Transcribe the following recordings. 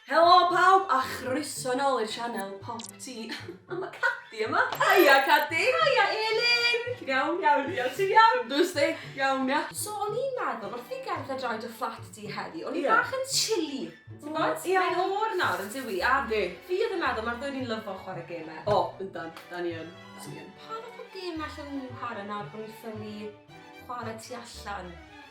Helo pawb a chroeso nôl i'r sianel Pop Tee. O ma Cadi yma! Haia Cadi! Haia Elin! Ti'n iawn? Iawn dwi iawn, ti'n iawn? Dos di, iawn ia? So o'n i'n meddwl wrth fi gerdded rownd dy fflat di heddi, o'n i bach yn chilly, ti'n gwybod? Ie. Mae'n oer nawr yn dyw i a fi oedd yn meddwl mae'r ddwy ni'n lyfo chwarae gemau. O, yndan, da ni yn. Pa fath o gemau allwn ni chwarae nawr bod ni'n ffili chwarae tu allan?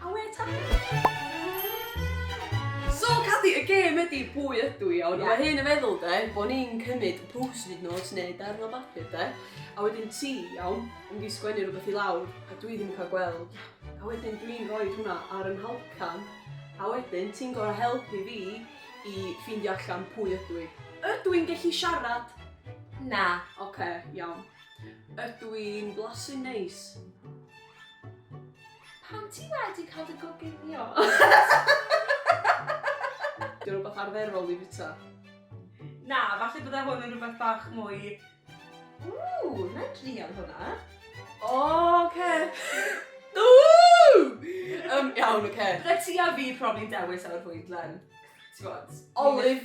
A we ta! So, Cathy, y gêm ydi pwy ydw i, ond yeah. mae hyn yn feddwl, de, bod ni'n cymryd y post-it notes neu darn o bapur, de, a wedyn ti, iawn, yn mynd i sgwennu rhywbeth i lawr, a dwi ddim yn cael gweld, a wedyn dwi'n rhoi hwnna ar yn halcan, a wedyn ti'n gorau helpu fi i ffeindio allan pwy ydw i. Ydw i'n gallu siarad? Na. Oce, okay, iawn. Ydw i'n blasu neis? Pan ti wedi cael dy goginio. Di o'n rhywbeth arferol i fita? Na, falle bydde hwn yn rhywbeth bach mwy... Ww, na i drial hwnna. O, oce. Ww! Yym, iawn, oce. Bydde ti a fi probably'n dewis efo'r fwydlen. Ti fod? Olive.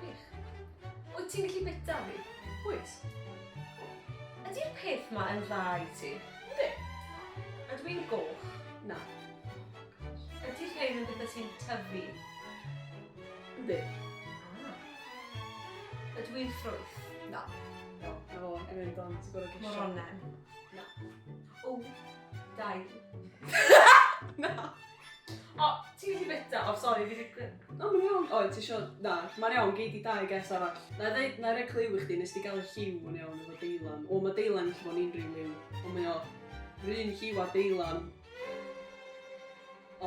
Gwych. Wyt ti'n gallu bita fi? Wyt. Ydy'r peth ma yn dda i ti? Yndi. Ydw i'n goch? Na. Ydy rhein yn bethau sy'n tyfu? Yndi. Ah. Ydw i'n ffrwyth? Na. No, na fo, yn mynd o'n ti'n gorau gesio. Moronen? Na. O, dail. Na. O, ti'n gallu byta. O sori fi 'di gwe- O ma'n iawn. O ti isio... Na, ma'n iawn gei di dau guess arall. 'Nai ddeud 'nai roi clue i chdi nes di ga'l y lliw yn iawn efo deilan. O ma' deilan gallu bod yn unryw liw on' mae o 'r un lliw â deilan.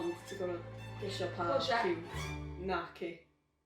Ond ti gor'o' gesio pa... Close shave. ...lliw. Naci.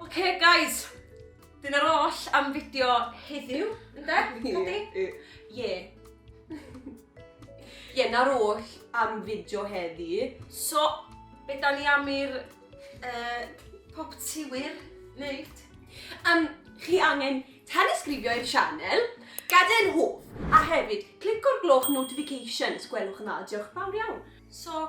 Oce, guys. Dyna'r oll am fideo heddiw, ynde? Codi? Ie. Ie, na'r oll am fideo heddi. So, be da ni am i'r uh, pop tiwyr wneud? Um, chi angen tanisgrifio i'r sianel, gadael hoff, a hefyd, clico'r gloch notifications, gwelwch yna, diolch fawr iawn. So,